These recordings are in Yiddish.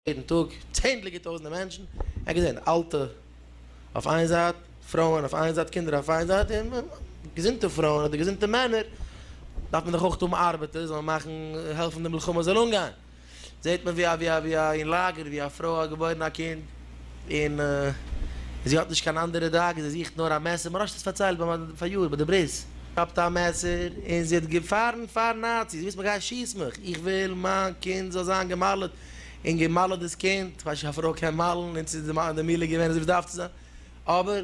יעדן טאג צענדליגער טויזנטער מענטשן, ער האט געזען אלטע אויף איין זייט, פרויען אויף איין זייט, קינדער אויף איין זייט, און געזונטע פרויען אדער געזונטע מענער, דארף מען דאך אויך האבן ארבעטער, זאלן מאכן, העלפן די מלחמה זאל אנגיין. זעט מען ווי א ווי א אין לאגער ווי א פרוי האט געבוירן א קינד און זי האט נישט קיין אנדערע דאגות זי זוכט נאר א מעסער מוהרא ש האט עס פארציילט ביי א פאריאר ביי די ברית כאפט א מעסער און זי האט געפארן פאר נאציס וואס מגייט שיס מיך איך וויל מיין קינד זאל זיין געמאלעט און געמאלעט דאס קינד כ'ווייס נישט א פרוי קען מאלן און צו די מילה געווען אזוי ווי עס דארף צו זיין אבער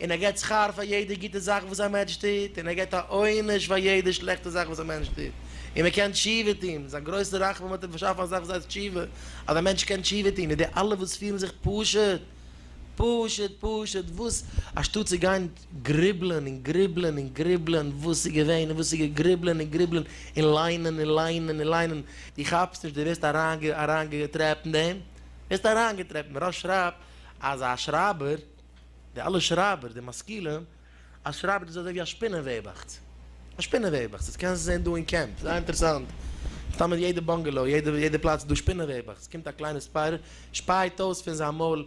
און ער געט שכר פאר יעדע גוטע זאך וואס א מענטש טוט, און ער געט א עונש פאר יעדע שלעכטע זאך וואס א מענטש טוט, און מען קען תשובה טון, איז א גרויסע רחמים האט ער באשאפן א זאך וואס הייסט תשובה, אז א מענטש קען תשובה טון, און די אלע וואס פירן זיך פשוט, פשוט, פשוט, וואס, אנשטאט צו גיין גריבלען און גריבלען און גריבלען וואס איז געווען און וואס איז גע, גריבלען און גריבלען און ליינען און ליינען און ליינען, דו כאפסט נישט, דו ווערסט אריינגע, אריינגעטרעפט אין דעם, ווערסט אריינגעטרעפט, מען רש שרייבט אז א שרייבער. די אלע שרייבער, די משכילים, א שרייבער איז אזוי ווי א שפינעוועבעכץ. א שפינעוועבעכץ. עס קענסט זען דא אין קעמפ. זייער אינטערעסאנט. סתם אין יעדע באנגעלאו, יעדע פלאץ איז דא שפינעוועבעכץ. קומט א קליינע ספיידער, שפייט אויס פון זיין מויל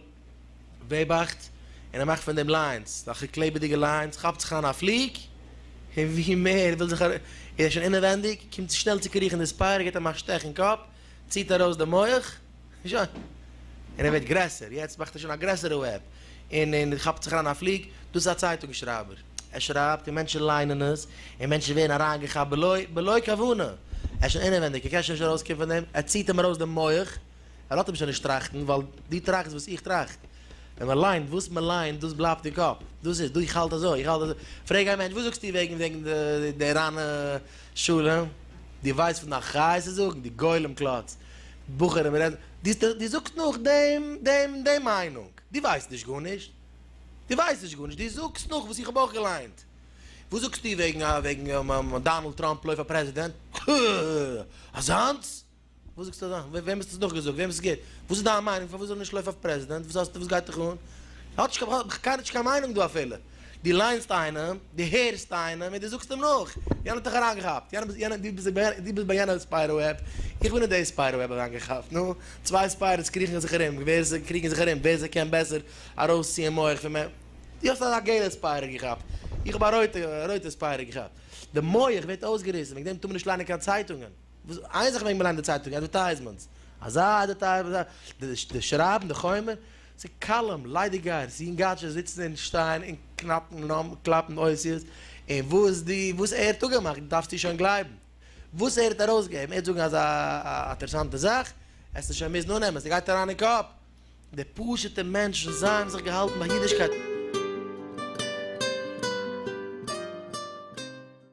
וועבעכץ, און ער מאכט פון דעם ליינס. אזעלכע קלעבעדיגע ליינס. כאפט זיך אן א פליג, און ווי מער ער וויל זיך ארום, איז ער שוין אינעווענדיג, קומט שנעל צו קריכן די ספיידער, גיט אים א שטעך אין קאפ, ציט ארויס די מח, און שוין. און ער ווערט גרעסער, יעצט מאכט ער שוין א גרעסערע וועב, און און כאפט זיך אריין א פליג, דאס איז א צייטונג שרייבער, ער שרייבט און מענטשן ליינען עס, און מענטשן ווערן אריינגעכאפט בלא בלא כוונה, ער איז שוין אינעווענדיג, ער קען שוין נישט ארויסקומען פון דעם, ער ציט אים ארויס די מח, ער לאזט אים שוין נישט טראכטן, ווייל דו טראכסט וואס איך טראכט, ווען מען ליינט, וואס מען ליינט דאס בלייבט אין קאפ, דאס איז, איך האלט אזוי, איך האלט אזוי, פרעג א מענטש, וואס זאגסטו וועגן וועגן די ריינע. שלום, דו ווייסט פון די אחריות צו זאגן? דו גולם קלאץ, בחורים רעדן, דו זאגסט נאך דעם, דעם, דעם מיינונג? דו ווייסט נישט גארנישט, דו ווייסט נישט גארנישט, דו זאגסט נאך וואס איך האב אויך געליינט. וואס זאגסטו וועגן, וועגן דאנעלד טראמפ לויפט פאר פרעזידענט? הא! אזאנס? וואס זאגסטו אזאך? וועם האסטו עס נאכגעזאגט? וועמענס גוט? וואס איז דיין מיינונג? פארוואס זאל ער נישט לויפן אויף פרעזידענט? וואס האסטו וואס גייט דיך אן? האט נישט קיינער נישט קיין מיינונג דא אפילו. דו ליינסט איינעם, דו הערסט איינעם און דו זאגסט אים נאך. יענער האט דיך אריינגעכאפט. יענער יענער דו ביסט דו ביסט ביי יענע ספיידער וועב. איך בין אין די ספיידער וועב אריינגעכאפט. נו, צוויי ספיידערס קריכן זיך ארום ווער זיי קריגן זיך ארום ווער זיי קען בעסער ארויסציען מח פון מענ. דו האסט א געלע ספיידער געכאפט. איך האב א רויטע רויטע ספיידער געכאפט. די מח ווערט אויסגעריסן. וועגן דעם טאר מען נישט ליינען קיין צייטונגען. וואס איין זאך מעג מען ליינען די צייטונג, אדווערטייזמענטס, אזא אדווערטייזמענט, די שרייבן, די חומר, ס'איז קאלום, ליידיגגייערס, יונגאטשעס זיצן און שטייען און קנאפן נאמען, קלאפן אותיות, און וואס די, וואס ער האט אפגעמאכט דארפסטו שוין גלייבן. וואס ער האט ארויסגעגעבן, ער וועט זאגן אזא אטערעסאנטע זאך, העסטו שוין מוזן אננעמען, ס'גייט אריין אין קאפ. די פשוטע מענטשן זיי האבן זיך געהאלטן ביי אידישקייט.